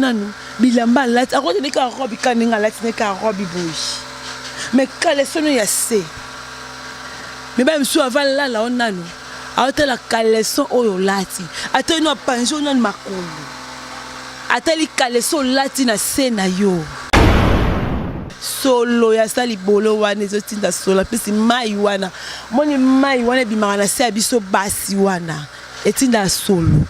nanu bilamba alati akoti ndenge kaka robe kaka ndenge alati ndenge kaka robe boye me kalesono ya se mibali mosusu ava lala o nanu aotala kaleson oyo olati ata ino apanzi o nanu makolo atali kaleson olati na se na yo solo ya sa libolo wana ezotinda solo apesi mai wana moni mai wana ebimaka na se ya biso basi wana etinda solo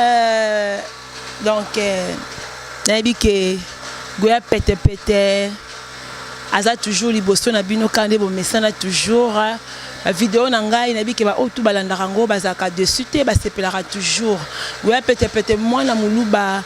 Euh, donc euh, nayebi ke goya pete pete aza toujours liboso na bino kaka nde bomesana toujours bavideo na ngai nayebi ke baoyo tu balandaka yango bazalaka dessus te basepelaka toujours goya pete pete mwana moluba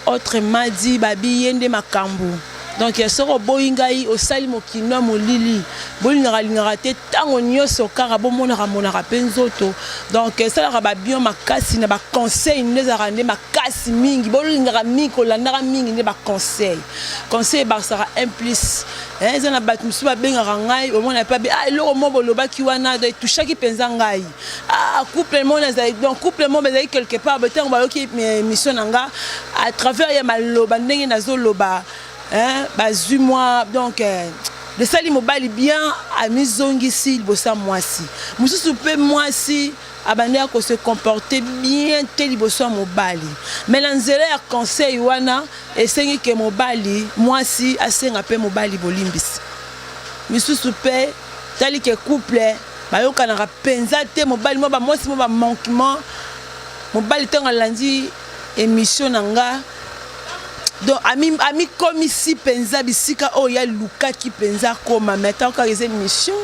autrement dit babi ye nde makambo Donc soki oboyi ngai osali mokindo ya molili bolingaka lingaka te ntango nyonso kaka bomonaka monaka mpe nzoto donc esalaka babion makasi na baconseil nde ezalaka nde makasi mingi bolingaka mingi kolandaka mingi nde baconseil conseil ebakisaka un plus eza na bato mosusu babengaka ngai omona epa be ah eloko mo bolobaki wana etouchaki mpenza ngai Ah, couple moko nazali donc couple moko ezali quelque part boye ntango bayoki eh, mission na nga à travers ya maloba ndenge nazoloba bazwi mwa donc eh, lesali mobali bien amizongisi liboso ya mwasi mosusu mpe mwasi abandi ya kose comporte bien te liboso ya mobali mai na nzela ya conseil wana esengi ke mobali mwasi asenga mpe mobali bolimbisi misusu mpe Tali ke couple bayokanaka penza te mobali mwa ba mwasi mwa ba manquement mobali ntango alandi emission na nga donc amikomisi mpenza bisika oyo ya lukaki mpenza akoma mais ntango kaka eza emission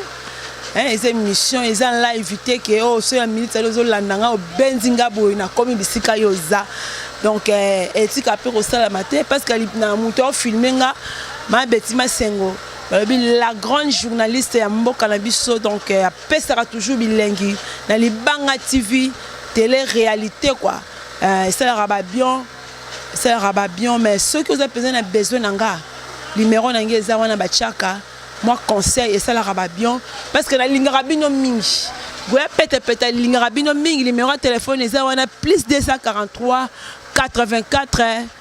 eza emission eza live te ke oyo oh, so ya minute ali ozolanda nga obenzi nga boye nakomi bisika yo oza donc eh, etika mpe kosalama te parce que na moto aofilme nga mabeti masengo balobi la grande journaliste ya mboka na biso donc euh, apesaka toujours bilengi na libanga tv tele réalité quoi euh, esalaka babion esalaka babion mais soki oza mpenza na besoin na nga limero na ngai eza wana batiaka mwa conseil esalaka babion parce que nalingaka bino mingi goya petepete alingaka bino mingi limero ya telefone eza wana plus 243 84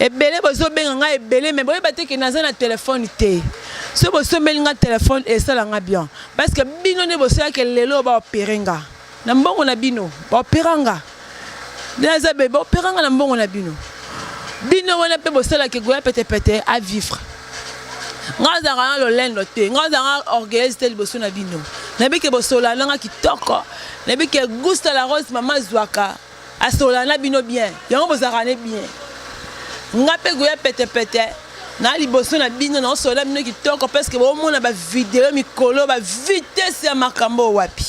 Ebele bozo benga nga ebele mais boyeba te que naza na telephone te. Soki bosombeli nga telephone esala nga bien parce que bino nde bosala que lelo ba opere nga na mbongo na bino ba opera nga nde naza bebe ba opera nga na mbongo na bino bino wana mpe bosala que goya pete pete a vivre nga azalaka na lolendo te nga azalaka orgueilleuse te liboso na bino nayebi ke bosola na nga kitoko nayebi ke gusta la rose mama azwaka Asolola na bino bien yango bozalaka ne bien nga pe goya pete pete na liboso na bino na osolola bino kitoko presque bomona ba video mikolo ba vitesse ya makambo wapi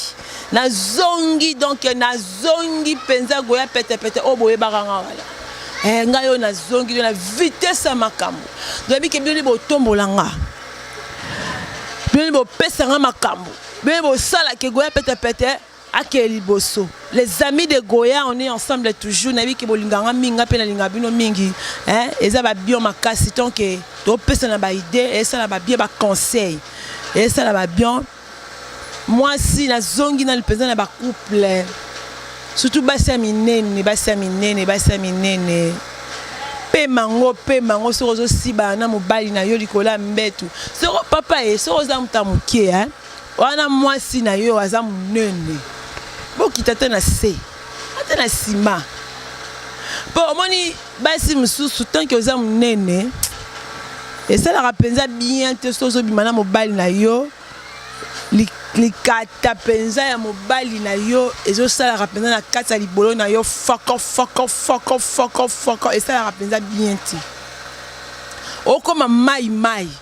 na zongi donc na zongi penza goya pete pete o boyebaka nga wala eh nga yo na zongi na vitesse ya makambo doyebi ke bino botombola nga bino bopesa nga makambo bino bosala ke goya pete pete Ake liboso les amis de Goya on est ensemble toujours na biki bolinga nga mingi nga pe na linga bino mingi hein eza ba bion makasi tant que to pesa na ba idée et ça na ba bien ba conseil et ça na ba bion moi si na zongi na lipeza na ba couple surtout basi ya minene basi ya minene basi ya minene pema yango pema yango soki ozosiba na mobali na yo likolo ya mbetu soko papa ye soki oza moto ya moke Wana mwasi na yo aza munene, bokita te na se, ata na sima. Mpo omoni basi mosusu tanke oza monene esalaka mpenza bien te soki ozobima na mobali na yo likata mpenza ya mobali na yo ezosalaka mpenza na kati ya libolo na yo foko foko foko foko foko esalaka mpenza bien te okoma mai mai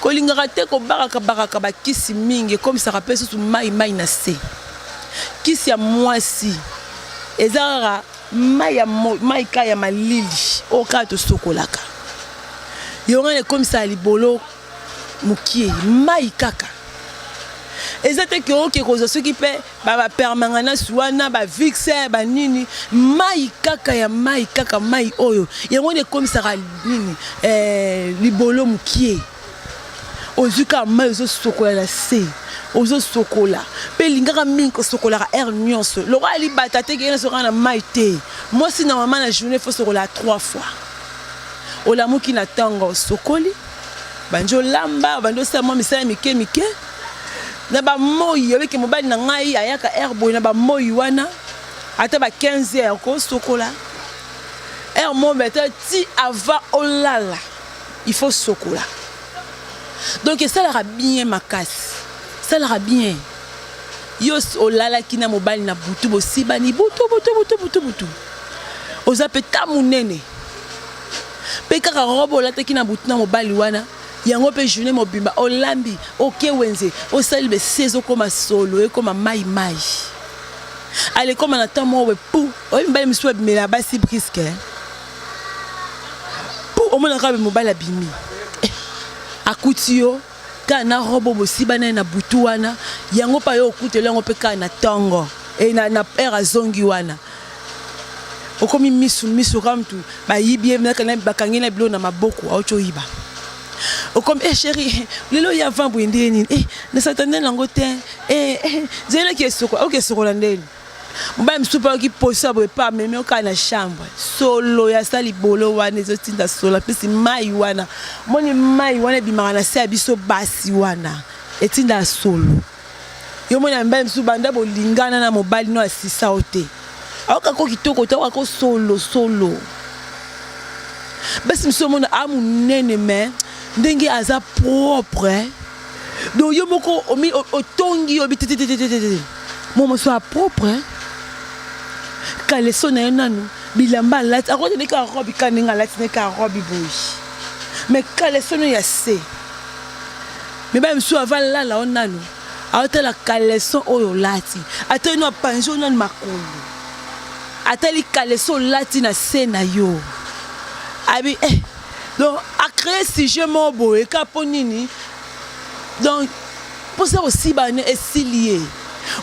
Kolingaka te kobakaka bakaka bakisi mingi ekomisaka mpe susu mai mai na se. Kisi ya mwasi eza kaka mai ya mai ka ya malili oyo kaka tosokolaka yango wana ekomisaka libolo mokie mai kaka eza te ke oke kozwa soki mpe ba ba permangances wana ba vixer ba nini mai kaka ya mai kaka mai oyo yango nde ekomisaka nini eh, libolo mokie ozwi kaka mai ozosokola na se ozosokola mpe elingaka mingi kosokolaka aire nyonso lokola libata te keyena sokaka na mai te mwasi na mama na journée fo sokola trois fois olamuki na ntongo osokoli bandi olamba bandi osala mwa misala mike mike na ba moyi yo ke mobali na ngai ayaka heure boye na ba moyi wana ata ba 15 heures ko sokola heure mo beta ti avant olala il faut sokola donc esalaka bien makasi esalaka bien yo olalaki na mobali na butu bosibani butu butu butu butu butu oza mpe ta monene mpe kaka robe olataki na butu na mobali wana Yango pe journee mobimba olambi oke wenze osali besi ezokoma solo ekoma mayi mayi alekoma na temps moko pou oyebi mibali mosusu babimela basi briske pou omonaka be mobali abimi eh, akuti yo kaka na robo bosiba naye na butu wana yango mpe ayo okutela yango mpe kaka na ntongo e na, na heure azongi wana okomi misu misu oka mtu bayibi ye naka na bakangi na bilo na maboko auti oyiba okomi eh chérie lelo ya vin boye ndenge nini eh na satane nango te eh, eh zelaki esoko aoki esokola ndeni mobali mosusu mpe aoki poso ya boye mpe amemi okaa na chambre solo ya sa libolo wana ezotinda solo apesi mai wana moni mai wana ebimaka na se ya biso basi wana etinda solo Yo mwana mibali mosusu banda bolingana na mobali no asisa yo te ayoka ko kitoko te ayoka ko solo solo basi mosusu omona a monene me ndenge aza propre donc yo moko otongi yo bitetetetetete mo mosusu a propre kaleso na ye nanu bilamba alati akoti ndeke arobi ka ndenge alati ndeke arobi boyi me kaleso no ya se Mibali mosusu ava lala yo nanu aotala caleçon oyo olati, atali no apanzi yo nanu makolo, atali caleçon olati na se na yo abi eh. Donc a cree sujet moko boye ka mpo nini? Donc mposa kosiba ne esili ye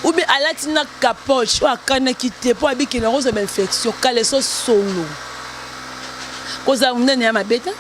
ou bien alati na capoche oyo akanaki te mpo abikela yango ozwa ba infection caleçon solo kozala monene ya mabe te.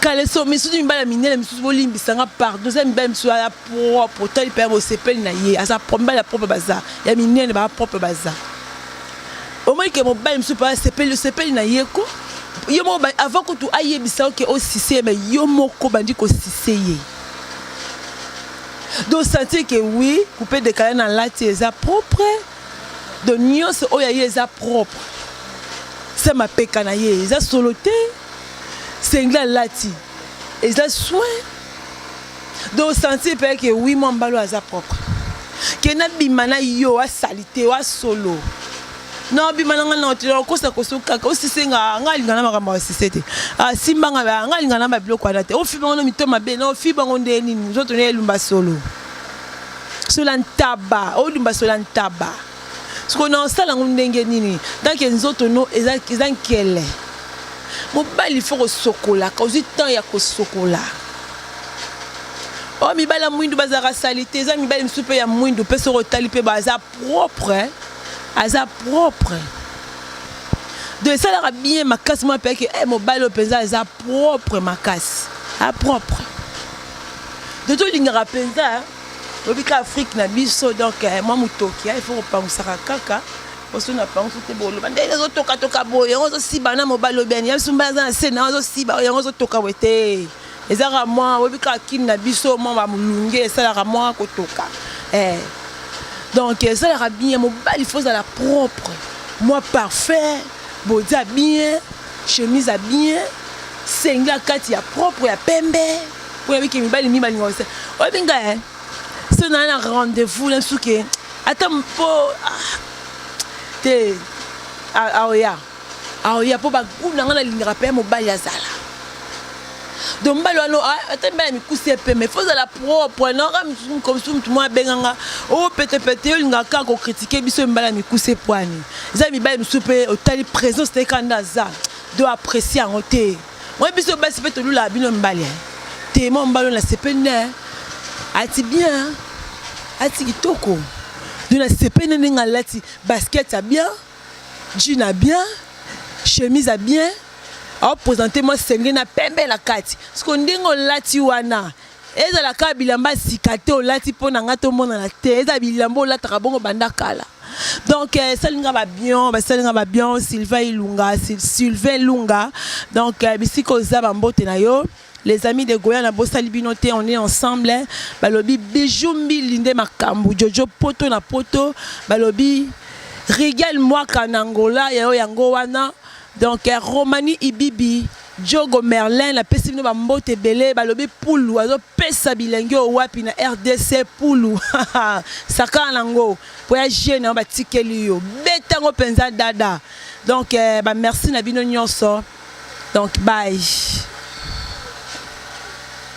kaleso misusu mibali ya minene misusu bolimbisa nga pardon eza mibali misusu ya propre otali mpe ya bosepeli na ye aza mibali ya propre baza ya minene baa propre baza omoni ke mobali misusu mpe asepeli osepeli na ye ko yo moko avant kutu ayebisa oke osise ye me yo moko bandi kosise ye donc sentir ke oui coupe dekala na lati eza propre Donc nionso oyo aye eza propre. Sa mapeka na ye eza solo te. Sengla alati eza soin. Donc sentir pe que oui mwa mbalo aza propre. Ke na bima na yo a salite wa solo. Na bima na nga na otela okosa koso kaka osise nga nga linga na makambo ya sise te. Ah simba nga ba nga linga na ba biloko wana te. Ofiba ngo mito mabe na ofiba ngo nde nini nzoto na elumba solo. sola ntaba odumba sola ntaba soko na osala yango ndenge nini tanke nzoto no eza, eza nkele mobali fo kosokolaka ozwi temps ya kosokola oyo oh, mibali ya mwindu bazalaka salite eza mibali mosusu mpe ya mwindu mpe soki otali mpe baza propre aza propre donc esalaka bien makasi mwa mpe eke eh, mobali oyo mpenza aza propre makasi a propre dodo olingaka mpenza oyebi ka afrike na biso donk eh, mwa motoki eh, il faut kopangusaka kaka oso na pangusu te boloba ndenge ezotokatoka boye yango ozosiba na mobali obiani ya sumba aza na se na ozosiba yango ozotoka boye te ezaka mwa oyebi kaka kini na biso mwa bamolunge esalaka mwa kotoka eh. donc esalaka bien mobali fo ozala propre mwa parfait boza bien Chemise ya bien, single ya kati ya propre ya pembe. Oyo abiki mibali mingi balinga osa. Oyo binga eh. So na na rendez-vous na suke. Ata mpo ah, te aoya. Aoya mpo baguna nga nalingaka mpe mobali azala. donc mbali wana ah, ata mbali ya mikusi ya pembe fo ozala propre naoka misusu motu mwa abenga nga o oh, petepete yo olingaka kaka kokritike biso mbali ya mikusi epwani eza mibali mosusu mpe otali présence te kaka nde aza do apprécie yango te moi biso basi mpe tolulaka bino mbali eh. te mwa mbali oyo nasepeli ne eh. ati bien eh. ati kitoko do nasepeli ne ndenge alati basket ya bien Jean a bien, chemise a bien, au presenter moi senge na pembe na kati. Siko ndenge olati wana, ezala kaka bilamba sika te olati mpo na ngai tomonana te, ezala bilamba olataka bongo banda kala. Donc euh, esali nga ba bien, basali nga ba bien, Sylvain Ilunga, Sylvain Lunga. Donc euh, bisika oza ba mbote na yo. Les amis de Goya na bosali bino te on est ensemble balobi bijou mbili nde makambu jojo poto na poto balobi Rigel mwaka na Angola yayo yango wana donc eh, Romani Ibibi Jogo Merlin na pesi bino bambote ebele balobi pulu azopesa bilengi oyo wapi na rdc pulu sakana nango mpo ya jeu na yo batikeli yo betango mpenza dada Donc eh, ba merci na bino nyonso. Donc bye.